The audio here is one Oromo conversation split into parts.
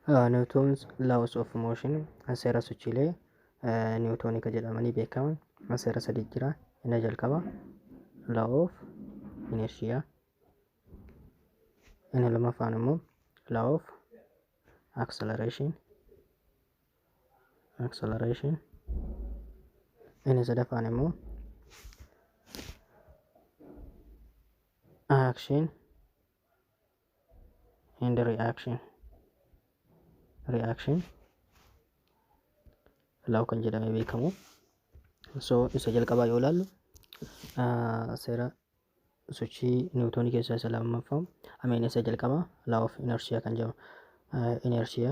Niwutoons laws of motion seera sochiilee niwutoonii kan jedhamanii beekaman seera sadii jira. Inni jalqaba law of inertia. Inni lammaffaan immoo law of acceleration. acceleration. Inni sadaffaan immoo action and reaction reaction law kan jedhamee beekamu so isa jalqabaa yoo ilaallu ah, seera sochii niwutoonii keessaa isa lammaffaa ameen isa jalqabaa law of inertia kan jedhamu inertia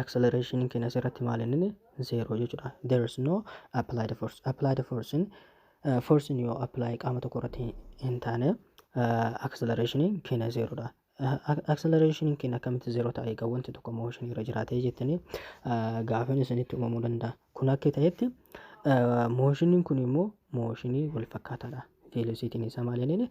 acceleration keenya asirratti maal inni zeeroo jechuudha there is no applied force applied force in uh, force in yoo apply qaama tokko irratti hin taane uh, acceleration keenya zeeroodha acceleration keenya akkamitti zeeroo ta'e egaa wanti tokko motion irra jiraatee jettanii uh, gaafiin isinitti uumamuu danda'a kun akka ta'etti uh, motioniin kun immoo motionii wal fakkaataadha velocity isaa maal inni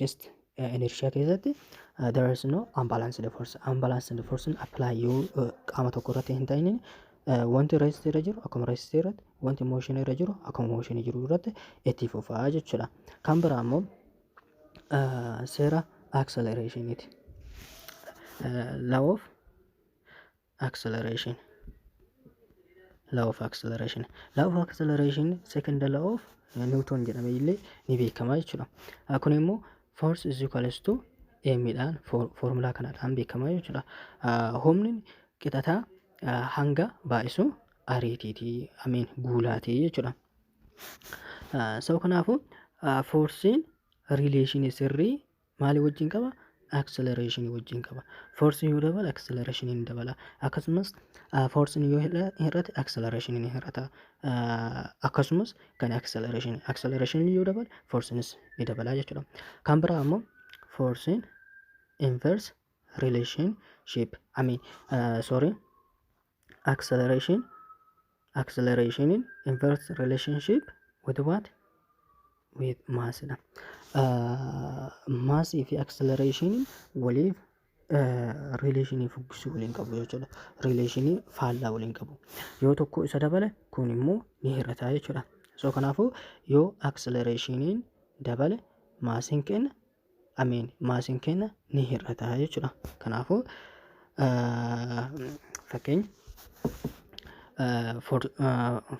just inertia keessatti there is no unbalanced force unbalanced force apply yoo qaama tokko irratti hin ta'in wanti rest irra jiru akkuma rest irratti wanti motion irra jiru akkuma motion jiru irratti itti fufaa jechuudha kan biraa immoo seera accelerationiti law of acceleration law of acceleration law of acceleration second law of newton jedhame illee ni beekama jechuudha kun immoo force is equals to m dhaan formulaa kanadhaan beekama jechuudha humni qixataa hanga baay'isu ariitiitii amiin guulaatii jechuudha sa'u kanaafuu forsiin riileeshinii sirrii maalii wajjin qaba? Acceleration wajjin qaba. Force yoo dabala acceleration ni dabala. Akkasumas force yoo hir'ate acceleration ni hir'ata. Akkasumas kan acceleration acceleration yoo dabala force ni dabala jechuudha. Kan biraa ammoo force inverse relationship I mean uh, sorry acceleration acceleration in inverse relationship with what with mass dha mass fi acceleration waliif rileeshinii fuggisuu waliin qabu jechuudha. Rileeshinii faallaa waliin qabu. Yoo tokko isa dabale kun immoo ni hir'ata jechuudha. So kanaafuu yoo acceleration dabale maasiin keenya ameen maasiin keenya ni hir'ata jechuudha. Kanaafuu fakkeenya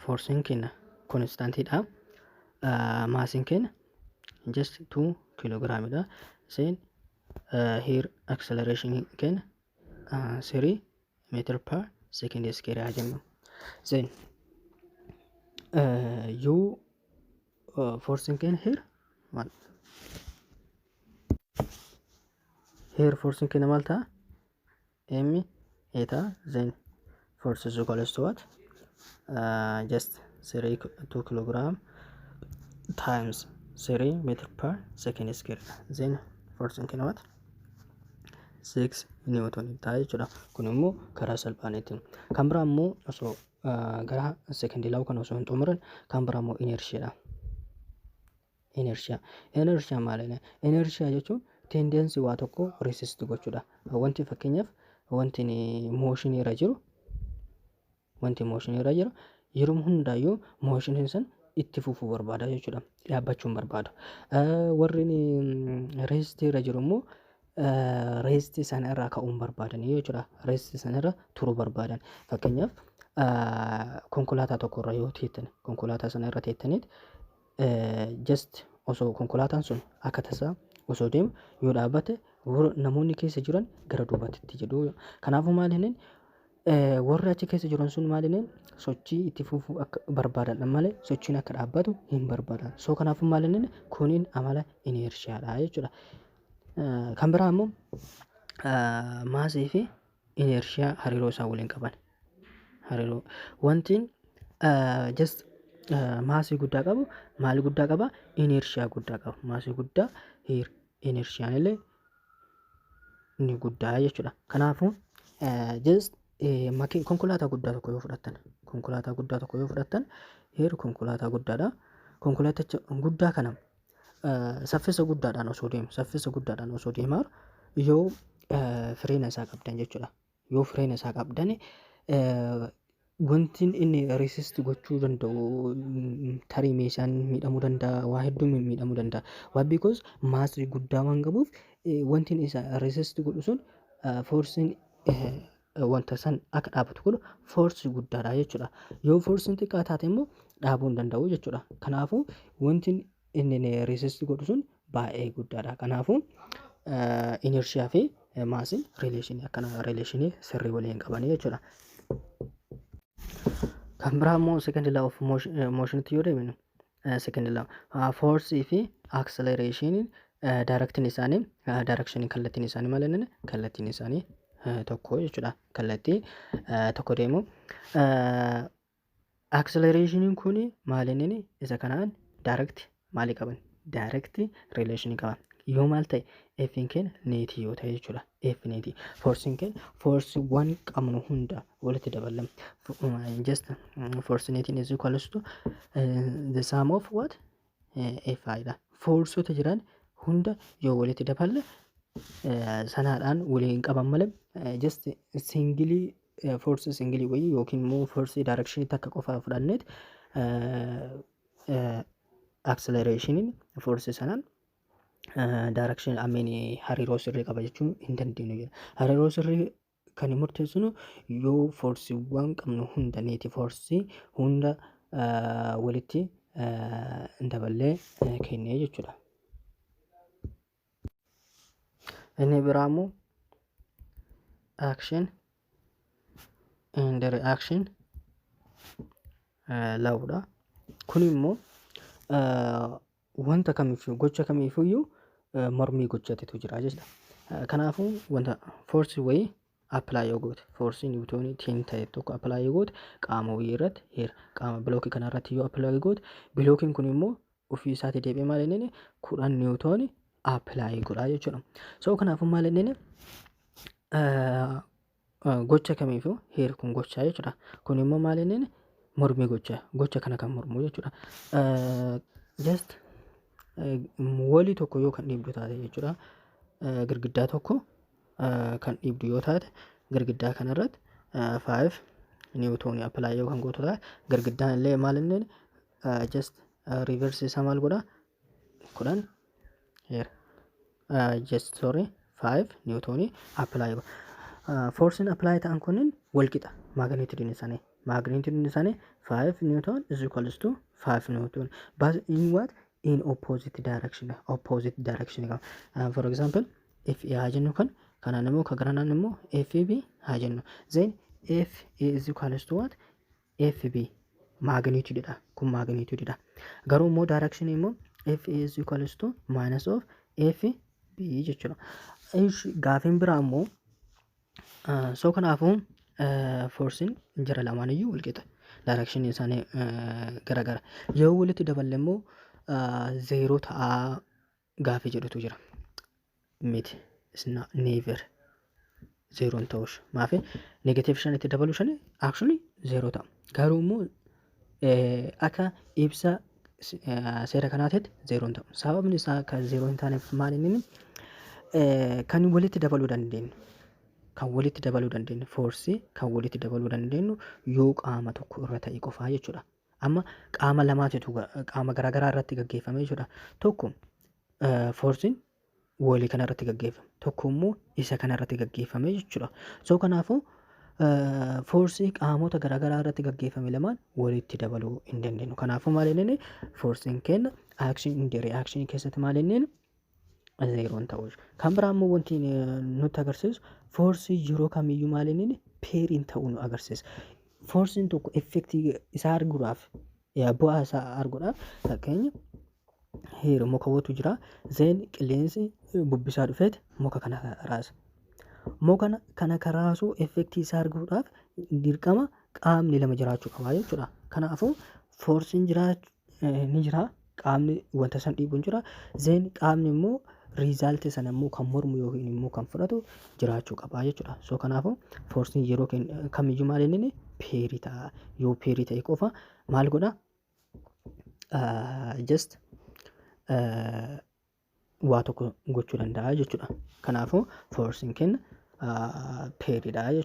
foorsiin keenya konistantidha. Maasiin keenya just 2 kiloogiraamidha. Seen hiir acceleration keenya 3 meetir per second square haa jennu. Seen yuu uh, forcing can here one here forcing can maal ta'a m a ta'a then force is equal to what uh, just 3 ki- 2 kilogram times 3 meter per second square then forcing can what 6 newton ta'a jechuudha kun immoo karaa salphaan ittiin kan biraa immoo osoo gara second law kana osoo hin xumurin kan biraa immoo inertia dha. Inertia. Inertia maal inni? Inertia jechuun tendency waa tokko resist gochuudha. Wanti fakkeenyaaf wanti motion irra jiru wanti motion irra jiru yeroo hundaayyuu motion san itti fufuu barbaada jechuudha. Dhaabbachuu hin barbaadu. Warri resist irra jiru immoo rest sana irraa ka'uun barbaadan jechuudha. Rest sana irra turuu barbaadan. Fakkeenyaaf konkolaataa tokko irra yoo teettan konkolaataa sana irra teettaniit just osoo konkolaataan sun akka tasaa osoo deemu yoo dhaabbate warra- namoonni keessa jiran gara duubatti jedhu. Kanaafuu maal inni warri achi keessa jiran sun maal inni sochii itti fufuu akka barbaadan malee sochiin akka dhaabbatu hin barbaadan. So kanaafuu maal inni kuniin amala ineershiyaadha jechuudha. Kan biraa immoo maasii fi ineershiyaa hariiroo isaan waliin qaban. Hariiroo wantiin just maasii guddaa qabu maal guddaa qaba ineershiyaa guddaa qaba. Maasii guddaa ineershiyaan illee ni guddaa jechuudha. Kanaafuu just makiin konkolaataa guddaa tokko yoo fudhattan konkolaataa guddaa tokko yoo fudhattan heeru konkolaataa guddaadha. Konkolaaticha guddaa kana saffisa guddaadhaan osoo deemu saffisa guddaadhaan osoo deemaa yoo fireena isaa qabdan jechuudha. Yoo fireena isaa qabdan wanti inni resist gochuu danda'u tarii meeshaan miidhamuu danda'a waa hedduun miidhamuu danda'a. Waa because maasii guddaa waan qabuuf wanti inni isa resist godhu sun foorsiin wanta san akka dhaabatu godhu foorsii guddaadha jechuudha. Yoo foorsiin xiqqaa taate immoo dhaabuu hin danda'u jechuudha. Kanaafuu wanti inni resist godhu sun baay'ee guddaadha. Kanaafuu inershiyaa fi maasiin rileeshinii akkana rileeshinii sirrii waliin qabanii jechuudha. Kan biraa immoo second law of motion motionitti yoo deeminu Second lama. Force fi acceleration direction isaanii direction kallattiin isaanii maal jennaan kallattiin isaanii tokko jechuudha. Kallattii tokko deemu. Acceleration kun maal inni isa kanaan direct maalii qaban? Direct relation qaba. Yoo maal ta'e F'n keenya neetii yoo ta'e jechuudha. definite forcing ken force wan qabnu hunda walitti dabalam just forcinating is equals to uh, the sum of what uh, fi dha forceota jiran hunda yoo walitti daballe uh, sanaadhaan waliin qaban malee uh, just singili uh, force singili wayii yookiin immoo force direction takka qofa fudhanneet uh, uh, acceleration force sanaan daarakshin ameen hariiroo sirrii qaba jechuun hin dandeenyu jira. Hariiroo sirrii kan murteessinu yoo foorsiiwwan qabnu hunda neeti foorsii hunda walitti daballee kennee jechuudha. Inni biraa immoo action and reaction lawudha. Kun immoo wanta kamiifuu gocha kamiifuyyuu eh, mormii gochatitu jira jechuudha. Eh, Kanaafuu wanta force wayii apply yoo goote force niwutoonii tiin ta'e tokko apply yoo goote qaama wayii irratti heer qaama bilookii kana irratti yoo apply goote bilookiin kun immoo ofii isaati deebi'ee maal inni kudhan niwutoonii apply godha jechuudha. So kanaafuu maal inni eh, gocha kamiifuu heerri kun gochaa jechuudha. Kun immoo maal inni mormii gocha gocha kana kan mormu jechuudha. Just walii tokko yoo kan dhiibdu taate jechuudha. Girgiddaa tokko kan dhiibdu yoo taate girgiddaa kanarratti five niwutoonii appilaayi yoo kan gootu taate girgiddaan illee maal inni just reverse isaa maal godhaa? kudhan here uh, just sorry 5 niwutoonii apply godha foorsiin apply ta'an kunniin wal qixa maagneetidiin isaanii maagneetidiin isaanii 5 niwutoon is equals to 5 niwutoon but in what in opposite direction opposite direction qaba uh, for example if a haa jennu kan kanaan immoo ka garanaan immoo f b haa jennu then f a is equals to what fb magnitude dha kun magnitude dha garuu immoo direction immoo f is equals to minus of f b jechuudha Ish, gaafiin biraa immoo ah, so kanaafuu ah, forsiin jara lamaan iyyuu walqixa direction isaanii ah, garagara yoo walitti daballe immoo ah, zeeroo ta'aa gaafii jedhutu jira. Miti. Isna never. Zeeroon ta'uus. Maafi negative shan itti dabaluu shani actually zeeroo ta'a. Garuu immoo akka ibsa seera kanaatitti zeeroon ta'u. Sababni isaa kan zeeroo hin taaneef maal inni kan walitti dabaluu dandeenyu. Kan walitti dabaluu dandeenyu foorsii kan walitti dabaluu dandeenyu yoo qaama tokko irra ta'e qofaa jechuudha. Amma qaama lamaatitu qaama garaagaraa irratti gaggeeffame jechuudha. Tokko foorsiin woolii kana irratti gaggeeffame. Tokko immoo isa kana irratti gaggeeffame jechuudha. So kanaafuu foorsii qaamota garaagaraa irratti gaggeeffame lamaan walitti dabaluu hin dandeenyu. Kanaafuu maal inni foorsiin kenna action in the reaction keessatti maal inni zeeroon ta'uu jechuudha. Kan biraa immoo wanti eh, nutti agarsiisu foorsii yeroo kamiyyuu maal inni peeriin ta'uu nu agarsiisa. Foorsiin tokko effektii isaa arguudhaaf yaa bu'aa isaa arguudhaaf fakkeenya heeru muka watu jira zeen qilleensi eh, bubbisaa dhufeet muka kana raasa. Muka kana kan raasuu effektii isaa arguudhaaf dirqama qaamni lama jiraachuu qaba jechuudha. Kanaafuu foorsiin jiraa eh, ni jira qaamni wanta san dhiibu hin jira. Zeen qaamni immoo riizaaltii sana immoo kan mormu yookiin immoo kan fudhatu jiraachuu qaba jechuudha. So kanaafuu foorsiin yeroo kenn- kamiyyuu maal inni peerii ta'a. Yoo peerii ta'e qofa maal godha? Just waa tokko gochuu danda'a jechuudha. Kanaafuu foorsiin kenna peeriidha jechuudha.